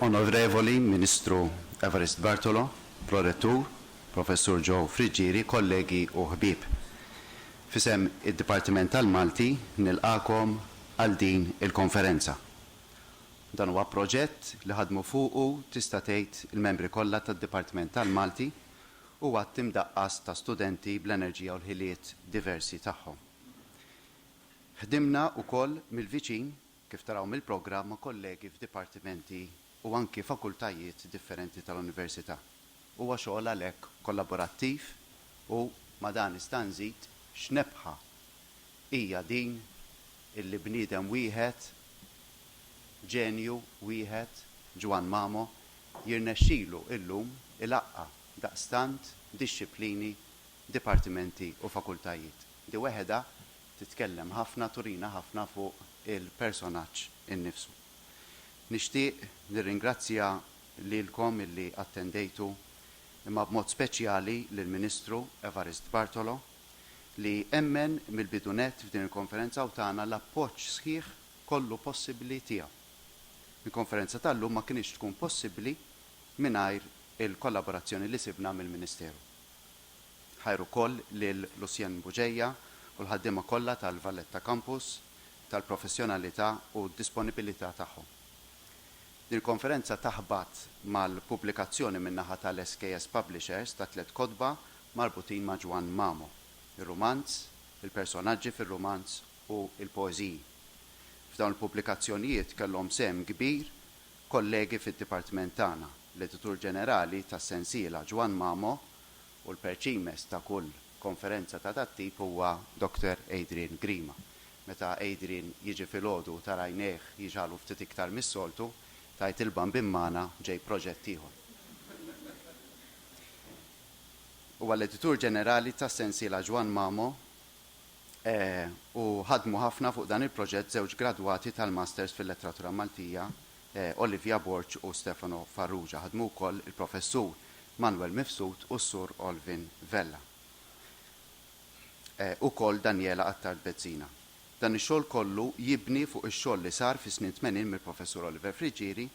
Onorevoli Ministru Evarist Bartolo, Prorettur, Professur Joe Friggieri, kollegi u ħbieb. F'isem id-Dipartiment tal-Malti nilqagħkom għal din il-konferenza. Dan huwa proġett li ħadmu fuqu tista' tgħid il-membri kollha tad-Dipartiment tal-Malti u għadd imdaqqas ta' studenti bl-enerġija u l-ħiliet diversi tagħhom. Ħdimna wkoll mill-viċin, kif taraw mill-programm, ma' kollegi f'dipartimenti u anki fakultajiet differenti tal-Università. Huwa xogħol għalhekk kollaborattiv u ma' dan nista' nżid x'nebħa hija din illi bniedem wieħed, ġenju wieħed, Ġwann Mamo, jirnexxilu illum ilaqqa' daqstant dixxiplini dipartimenti u fakultajiet. Di weħedha titkellem ħafna turina ħafna fuq il-personaġġ innifsu. Nixtieq nirringrazzja lilkom illi attendejtu imma b'mod speċjali lill-Ministru Evarist Bartolo li emmen mill-bidu nett f'din il-konferenza u tana l-appoġġ sħiħ kollu possibbli tiegħu. Il-konferenza tal-lum ma kinitx tkun possibbli mingħajr il-kollaborazzjoni li sibna mill-Ministeru. Ħajr ukoll lil Lucien Bugeja u l-ħaddiema kollha tal-Valletta Campus tal-professjonalità u d-disponibilità tagħhom. Din il-konferenza taħbat mal-pubblikazzjoni min-naħa tal-SKS Publishers ta' tliet kotba marbutin ma' Ġwann Mamo, ir-rumanz, il-personaġġi fir-rumanz u l-poeżiji. F'dawn il-pubblikazzjonijiet kellhom sehem kbir Kollegi fid-Dipartiment tagħna, l-Editur Ġenerali tas-sensiela Ġwann Mamo u l-perċimes ta' kull konferenza ta' dat-tip huwa Dr. Adrian Grima. Meta Adrian jiġi filgħodu u tara għajnejh jiġagħlu ftit iktar mis-soltu, tgħid il-bambin magħna ġej proġett ieħor. Huwa l-Editur Ġenerali tas-sensiela Ġwann Mamo e, u ħadmu ħafna fuq dan il-proġett żewġ gradwati tal-Masters fil-Letteratura Maltija, e, Olivia Borg u Stefano Farrugia. Ħadmu wkoll il-Professur Manwel Mifsud u s-Sur Olvin Vella. E, ukoll Daniela Attard Bezzina. Dan ix-xogħol kollu jibni fuq ix-xogħol li sar fis-snin tmenin mill-Professur Oliver Friggieri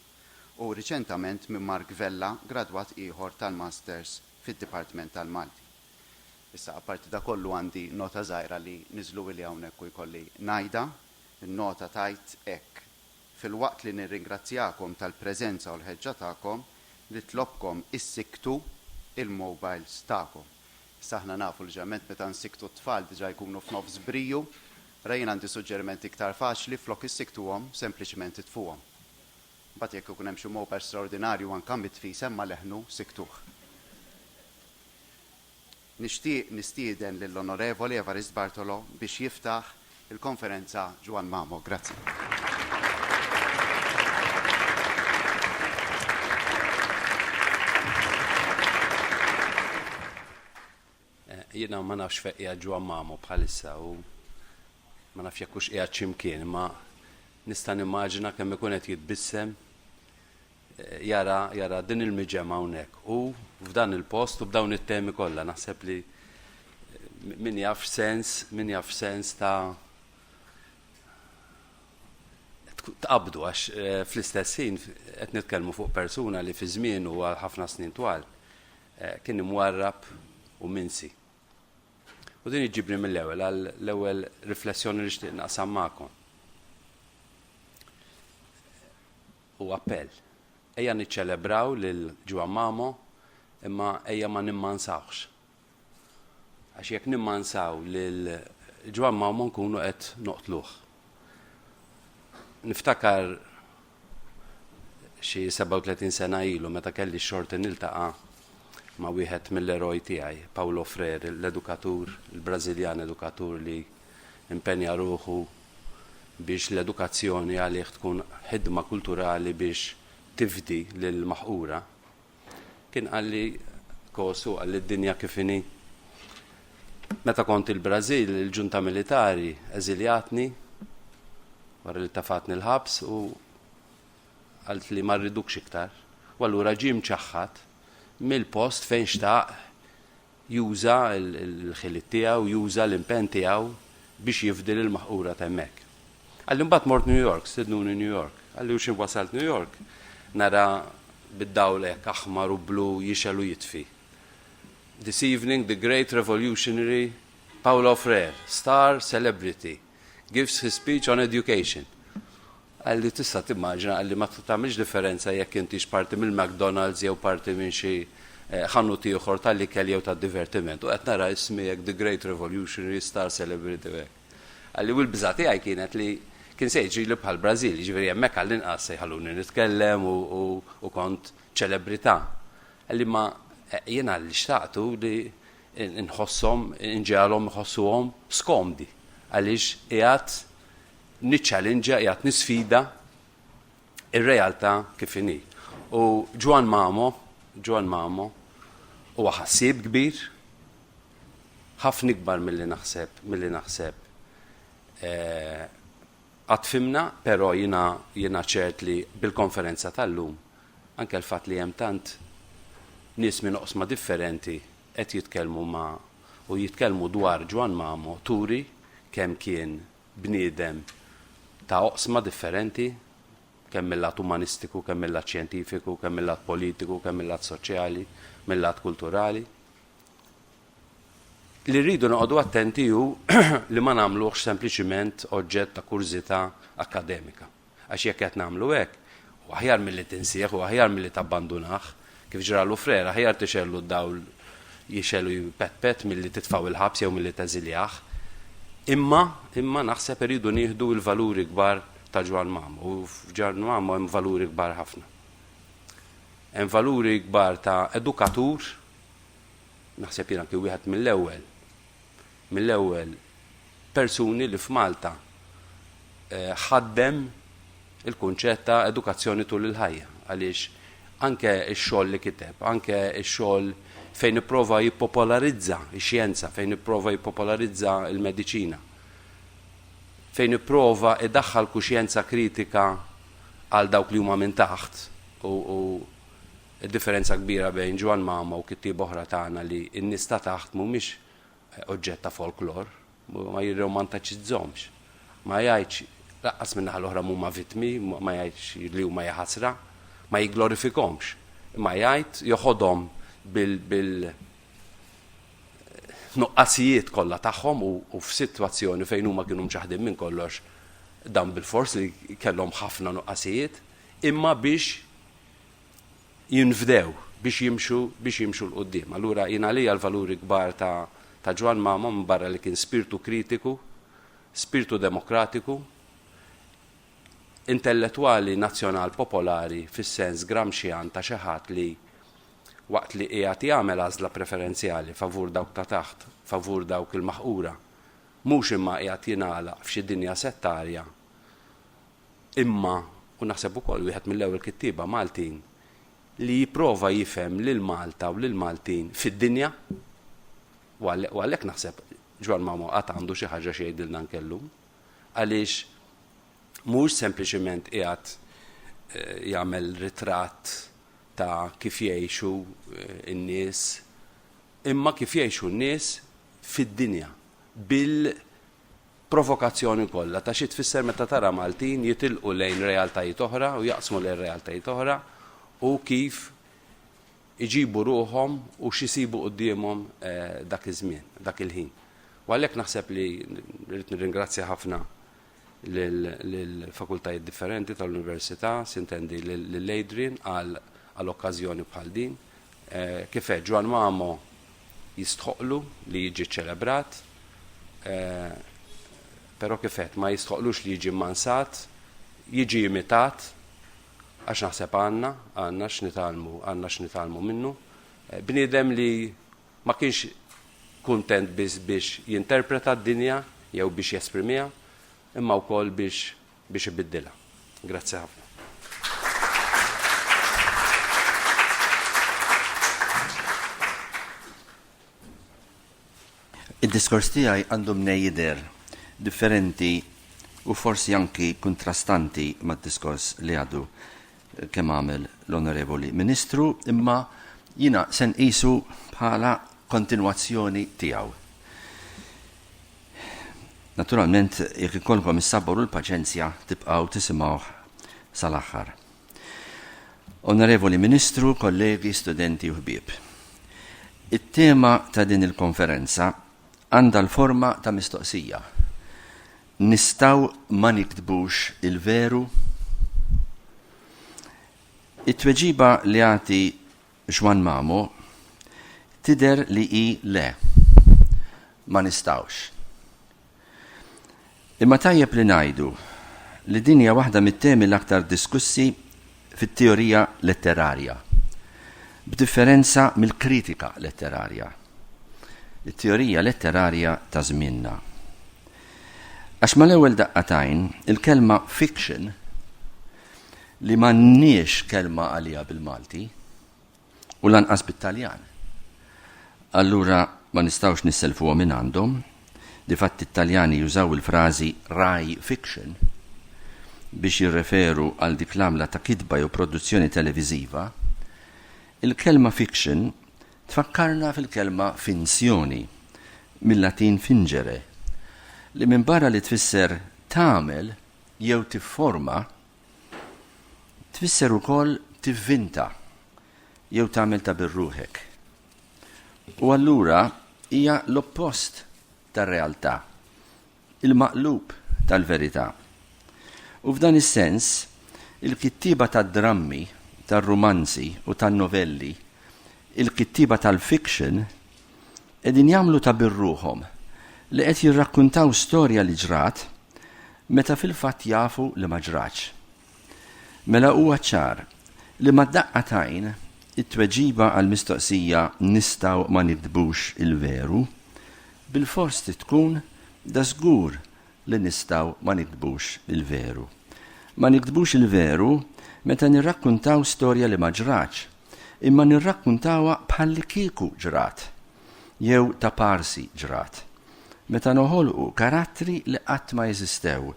u riċentament minn Mark Vella, gradwat ieħor tal-Masters fid-Dipartiment tal-Malti. Issa, apparti da kollu għandi nota żgħira li niżluili hawnhekk u jkolli ngħidha. In-nota tgħid hekk, Filwaqt li nirringrazzjakom tal-preżenza u l-ħeġġa tagħkom, nitlobkom issikktu il-mobiles tagħkom. Issa aħna nafu li ġeneralment meta nsikktu t-tfal diġà jkunu f'nofs briju, ra jien għandi suġġeriment iktar faċli, flok issikktuhom, sempliċement itfuhom. Imbagħad jekk ikun hemm xi mobile straordinarju anke mitfi semma' leħnu, sikktuh. Nixtieq nistieden lill-Onorevoli Evarist Bartolo biex jiftaħ il-Konferenza Juan Mamo. Grazzi. Jiena ma nafx fejn qiegħed Juan Mamo bħalissa u ma nafx jekk hux qiegħed xi mkien, imma nista' nimmaġina kemm ikun qed jitbissem jara, jara din il-miġema hawnhekk u f'dan il-post u b'dawn it-temi kollha naħseb li min jaf sens, min jaf sens ta' tqabdu għax eh, fl-istess ħin qed nitkellmu fuq persuna li fi żmien u għal ħafna snin twal eh, kien imwarrab u minsi. U din iġibni mill-ewwel għal l-ewwel riflessjoni li xtieq naqsam magħkom. Hu appell. Ejja niċċelebraw lil Juan Mamo imma ejja ma nimmansawhx. Għax jekk nimmansaw lil Juan Mamo nkunu qed noqtluh. Niftakar xi 37 sena ilu meta kelli x-xorti niltaqa' ma' wieħed mill-eroj tiegħi, Paulo Freire, l-edukatur, il-Brażiljan edukatur li impenja ruħu biex l-edukazzjoni għalih tkun ħidma kulturali biex tifdi lill-maħqura, kien qalli, Kosu, qalli d-dinja kif inhi. Meta kont il-Brażil, il-ġunta militari eżiljatni wara li tafatni l-ħabs u għalt li ma rridukx iktar. U allura ġie mċaħħad mill-post fejn xtaq juża l-ħiliet tiegħu, juża l-impenn tiegħu biex jifdi lill-maħqura t'hemmhekk. Qalli mbagħad mort New York, stednuni New York. Qalli u xi wasalt New York nara bid-dawl hekk aħmar u blu jixgħel u jitfi. This evening the great revolutionary Paulo Freire, star celebrity, gives his speech on education. Qal li tista' timmaġina, qal li ma tagħmilx differenza jekk intix parti mill-McDonald's jew parti minn xi ħanut ieħor tal-ikel jew tad-divertiment u qed nara ismi hekk The Great Revolutionary Star Celebrity u hekk. Qal li u l-biża' tiegħi kienet li kien se jiġrili bħall-Brażil, jiġifieri hemmhekk għall-inqas se jħalluni nitkellem u kont ċelebrità. Qal li imma jiena li xtaqt hu li nħosshom, inġegħelhom iħossuhom skomdi għaliex qiegħed niċċallinġja, qiegħed nisfida r-realtà kif inhi. U Ġwann Mamo, Ġwann Mamo, huwa ħassieb kbir, ħafna ikbar milli naħseb, milli naħseb qatt fhimna, però jiena jiena ċert li bil-konferenza tal-lum, anke l-fatt li hemm tant nies minn oqsma differenti qed jitkellmu ma' u jitkellmu dwar Ġwann Mamo turi kemm kien bniedem ta' oqsma differenti, kemm mil-lat umanistiku, kemm mil-lat xjentifiku, kemm mil-lat politiku, kemm mil-lat soċjali, mil-lat kulturali. Li rridu noqogħdu attenti hu li ma nagħmluhx sempliċiment oġġett ta' kurżità akkademika. Għax jekk qed nagħmlu hekk, hu aħjar milli tinsih, hu aħjar milli tabbandunah. Kif ġralu frer, aħjar tixegħellu d-dawl jixgħel u jpetpet milli titfgħu il-ħabs jew milli teżiljah. Imma, imma naħseb irridu nieħdu l-valuri kbar ta' Ġwann Mamo, u f'Ġwann Mamo hemm valuri kbar ħafna. Hemm valuri kbar ta' edukatur, naħseb jien anki wieħed mill-ewwel, mill-ewwel persuni li f'Malta ħaddem il-kunċett ta' edukazzjoni tul il-ħajja għaliex anke x-xogħol li kiteb, anke x-xogħol fejn ipprova jippopolarizza x-xjenza, fejn ipprova jippopolarizza l-mediċina, fejn ipprova idaħħal kuxjenza kritika għal dawk li huma minn taħt u Id-differenza kbira bejn Ġwann Mama u kittieba oħra tagħna li n-nies ta' taħt mhumiex oġġett ta' folklor, ma jirromantaċizzhomx, ma jgħidx, laqqas min-naħa l-oħra mhuma vittmi, ma jgħidx li huma ja ħasra, ma jigglorifikhomx, imma jgħid, joħodhom bil, nuqqasijiet kollha tagħhom u f'sitwazzjoni fejn huma kienu mċaħħdin minn kollox, dawn bilfors li kellhom ħafna nuqqasijiet, imma biex, jinfdew biex jimxu biex jimxu 'l quddiem. Allura jien għalija l-valuri kbar ta' ta' Ġwann Mamo minbarra li kien spirtu kritiku, spirtu demokratiku, intellettwali nazzjonal popolari fis-sens Gramscian ta' xi ħadd li waqt li qiegħed jagħmel għażla preferenzjali favur dawk ta' taħt, favur dawk il-maħqura, mhux imma qiegħed jingħalaq f'xi dinja settarja imma, u naħseb ukoll wieħed mill-ewwel kittieba Maltin li jipprova jifhem lil Malta u lill-Maltin fid-dinja, u għalhekk naħseb Ġwann Mamo għad għandu xi ħaġa xi jgħidilna anke llum, għaliex mhuwiex sempliċiment qiegħed jagħmel ritratt ta' kif jgħixu n-nies, imma kif jgħixu n-nies fid-dinja, bil provokazzjoni kollha ta' xi tfisser meta tara Maltin jitilqu lejn realtajiet oħra u jaqsmu lejn realtajiet oħra u kif iġibu ruħhom u x'isibu quddiemhom dak iż-żmien, dak il-ħin. U għalhekk naħseb li rrid nirringrazzja ħafna lill-fakultajiet differenti tal-Università, sintendi lil Adrian għal okkażjoni bħal din, Eh, kif għed Ġwan Mamo jistħoqlu li jiġi ċelebrat, eh, pero kif għed ma jistħoqlux li jiġi mansat, jiġi imitat, għax naħseb għanna, għanna x'nitalmu, għanna x'nitalmu minnu. Eh, bniedem li ma kienx kuntent biss biex jinterpreta d-dinja jew biex jesprimiha, imma wkoll biex biex ibiddilha. Grazzi ħafna. Id-diskors tiegħi għandu mnej jidher differenti u forsi anki kontrastanti mad-diskors li għadu kemm għamel l-Onorevoli Ministru, imma jiena se nqisu bħala kontinwazzjoni tiegħu. Naturalment, jekk ikollkom is-sabor u l-paċenzja tibqgħu tisimgħuh sal-aħħar. Onorevoli Ministru, kollegi, studenti u ħbieb. It-tema ta' din il-konferenza għandha l-forma ta' mistoqsija. Nistaw ma niktbux il-veru? It-tweġiba li għati Juan Mamo, Tidher li hi le. Ma nistgħux. Imma tajjeb li ngħidu li din hija waħda mit-temi l-aktar diskussi fit-teorija letterarja, b'differenza mill-kritika letterarja, it-teorija letterarja ta' żmienna. Għax mal-ewwel daqqa t'għajn, il-kelma fiction li m'għandniex kelma għaliha bil-Malti u lanqas bit-Taljan. Allura ma nistgħux nisselfuha minn għandhom, difatti t-Taljani jużaw il-frażi Rai Fiction biex jirreferu għal dik l-għamla ta' kitba jew produzzjoni televiżiva, il-kelma fiction tfakkarna fil-kelma finzjoni, mill-Latin fingere, li minbarra li tfisser tagħmel jew tifforma Tfisser ukoll tivvinta jew tagħmel ta' birruħek. U allura hija l-oppost tar-realtà, il-maqlub tal-verità. U f'dan is-sens, il-kittieba tad-drammi, tar-rumanzi u tan-novelli, il-kittieba tal-fiction, qegħdin jagħmlu ta' birruħhom li qed jirrakkuntaw storja li ġrat meta fil-fatt jafu li ma ġratx. Mela huwa ċar li mad-daqqa t'għajn it-tweġiba għall-mistoqsija nistgħu ma nikdbux il-veru bilfors trid tkun dażgur li nistgħu ma nikdbux il-veru. Ma nikdbux il-veru meta nirrakkuntaw storja li ma ġratx. imma nirrakkuntawha bħallikieku ġrat, jew ta' parsi ġrat, meta noħolqu karattri li qatt ma eżistew,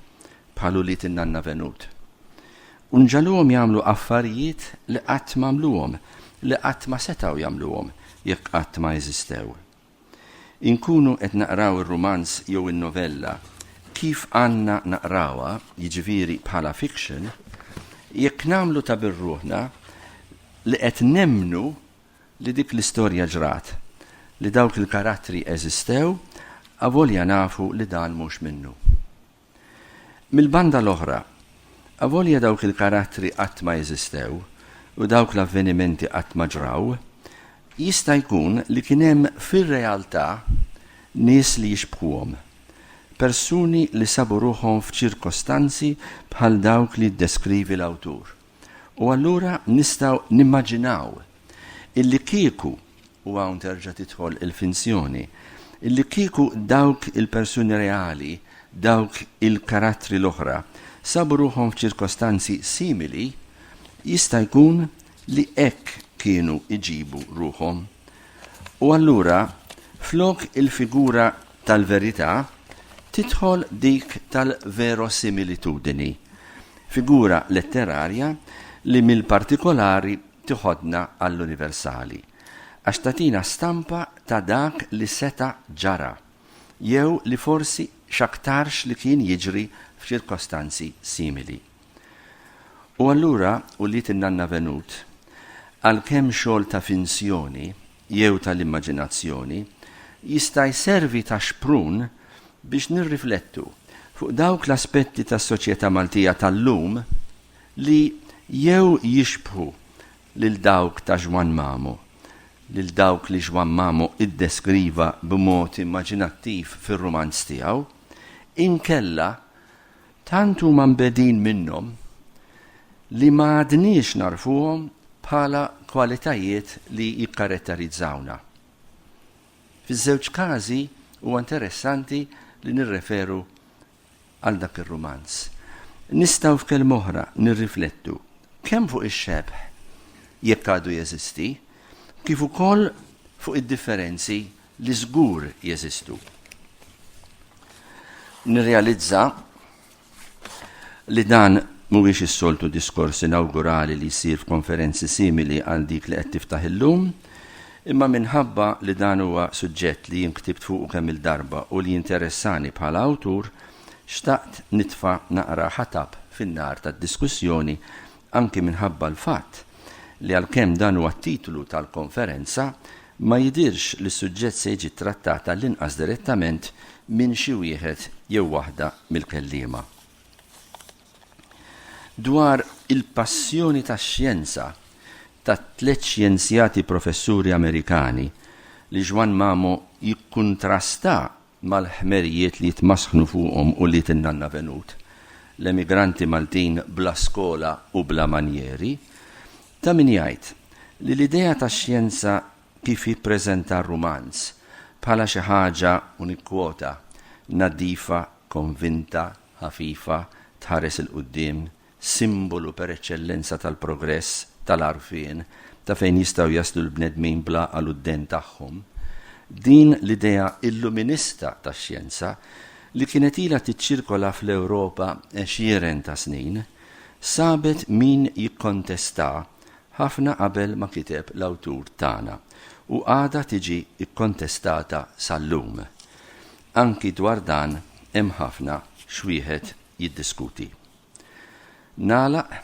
bħal ulied in-nanna Venut, u nġagħluhom jagħmlu affarijiet li qatt m'għamluhom, li qatt ma setgħu jagħmluhom jekk qatt ma eżistew. Inkunu qed naqraw ir-rumanz jew in-novella kif għandna naqrawha, jiġifieri bħala fiction, jekk nagħmlu ta' birruħna li qed nemmnu li dik l-istorja ġrat, li dawk il-karattri eżistew, avolja nafu li dan mhux minnu. Mill-banda l-oħra, avolja dawk il-karattri qatt ma eżistew u dawk l-avvenimenti qatt ma ġraw, jista' jkun li kien hemm fir-realtà nies li jixbħuhom, persuni li sabu ruħhom f'ċirkostanzi bħal dawk li jiddeskrivi l-awtur. U allura nistgħu nimmaġinaw illi kieku, u hawn terġa' tidħol il-finzjoni, illi kieku dawk il-persuni reali, dawk il-karattri l-oħra, sabu ruħhom f'ċirkostanzi simili, jista' jkun li hekk kienu jġibu ruħhom. U allura, flok il-figura tal-verità tidħol dik tal-verosimilitudini, figura letterarja li mill-partikolari tiħodna għall-universali, għax tagħtina stampa ta' dak li seta' ġara, jew li forsi x'aktarx li kien jiġri f'ċirkostanzi simili. U allura, ulied in-Nanna Venut, għalkemm xogħol ta' finzjoni, jew tal-immaġinazzjoni, jista' jservi ta' xprun biex nirriflettu fuq dawk l-aspetti tas-soċjetà Maltija tal-lum li jew jixbħu lil dawk ta' Ġwann Mamu, lil dawk li Ġwann Mamu iddeskriva b'mod immaġinattiv fir-rumanz tiegħu, inkella Tant huma mbegħdin minnhom li ma għadniex narfuhom bħala kwalitajiet li jikkaratterizzawna. Fiż-żewġ każi huwa interessanti li nirreferu għal dak ir-rumanz. Nistgħu f'kelm oħra nirriflettu kemm fuq ix-xebh jekk għadu jeżisti, kif ukoll fuq id-differenzi li żgur jeżistu. Nirrealizza li dan mhuwiex is-soltu diskors inawgurali li jsir f'konferenzi simili għal dik li qed tiftaħ illum, imma minħabba li dan huwa suġġett li jien ktibt fuqu kemm il-darba u li jinteressani bħala awtur, xtaqt nitfa' naqra ħatab fin-nar tad-diskussjoni anki minħabba l-fatt li għalkemm dan huwa t-titlu tal-konferenza, ma jidhirx li s-suġġett se jiġi ttrattat għall-inqas direttament minn xi wieħed jew waħda mill-kelliema. Dwar il-passjoni tax-xjenza tat-tliet xjenzjati professuri Amerikani li Juan Mamo jikkuntrasta mal-ħmerijiet li jitmasħnu fuqhom u wlied in-nanna venut, l-emigranti Maltin bla skola u bla manjieri, ta' min jgħid li l-idea tax-xjenza kif jippreżenta r-rumanz, bħala xi ħaġa, u nikkwota, naddifa, konvinta, ħafifa, tħares 'il quddiem, simbolu per eċċellenza tal-progress, tal-għarfien, ta' fejn jistgħu jaslu l-bnedmin bl-għaqal u d-dehen tagħhom, din l-idea illuminista tax-xjenza, li kienet ilha tiċċirkola fl-Ewropa għexieren ta' snin, sabet min jikkontestha ħafna qabel ma kiteb l-awtur tagħna u għadha tiġi kkontestata sal-lum. Anki dwar dan hemm ħafna x'wieħed jiddiskuti. Nagħlaq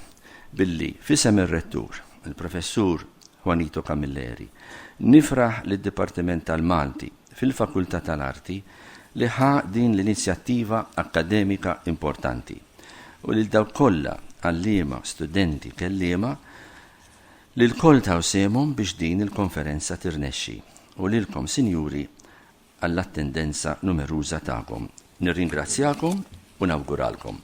billi f'isem ir-Rettur, il-Professur Juanito Camilleri, nifraħ lid-Dipartiment tal-Malti fil-Fakultà tal-Arti li ħa din l-inizjattiva akkademika importanti u lil dawk kollha, għalliema, studenti, kelliema, li lkoll taw sehemhom biex din il-konferenza tirnexxi u lilkom, Sinjuri, għall-attendenza numeruża tagħkom. Nirringrazzjakom u nawguralkom.